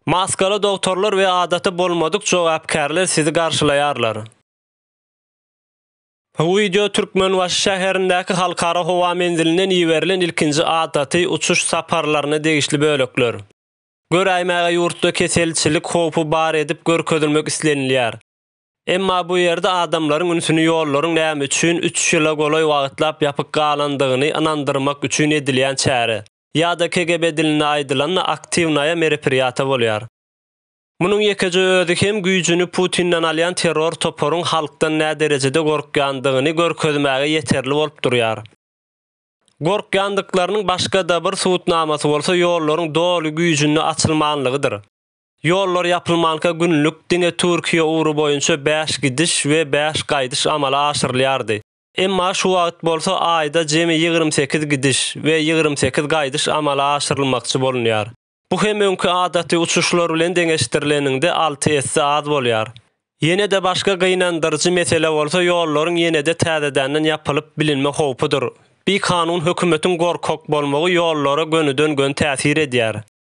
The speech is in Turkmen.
Maskaly dogtorlar we adaty bolmadyk jogapkärler sizi garşylaýarlar. Bu wideo Türkmenbaşy şäherindäki Halkara howa menzilinden iberilen ilkinji adaty uçuş saparlaryna degişli bölekler. Göräýmäge ýurtda keselçilik howpy bar edip görkezilmek islenilýär. Emma bu ýerde adamlaryň ünsüni ýollaryň näme üçin üç ýyla golaý wagtlap ýapyk galandygyny ynandyrmak üçin edilýän çäre, ýa-da KGB dilinde aýdylanda aktiwnaýa merepriýata bolýar. Munuň ýekeje özi hem güýjüni Putinden alýan terror toparyň halkdan näderejede gorkýandygyny görkezmäge ýeterli bolup durýar. Gorkýandyklarynyň başga-da bir subutnamasy bolsa ýollaryň doly güýjünde açylmanlygydyr. Ýollar ýapylmanka günlük diňe Türkiýe ugry boýunça bäş gidiş we bäş gaýdyş amala aşyrylýardy. Emma şu wagt bolsa aýda jemi ýigrimi sekiz gidiş we ýigrimi sekiz gaýdyş amala aşyrylmakçy bolunýar. Bu hem öňki adaty uçuşlar bilen deňeşdirileniňde alty esse az bolýar. Ýene-de başga gynandyryjy mesele bolsa ýollaryň ýene-de täzedenden ýapylyp bilinme howpudyr. Bikanun hökümetiň gorkak bolmagy ýollara gönüden-gön täsir edýär.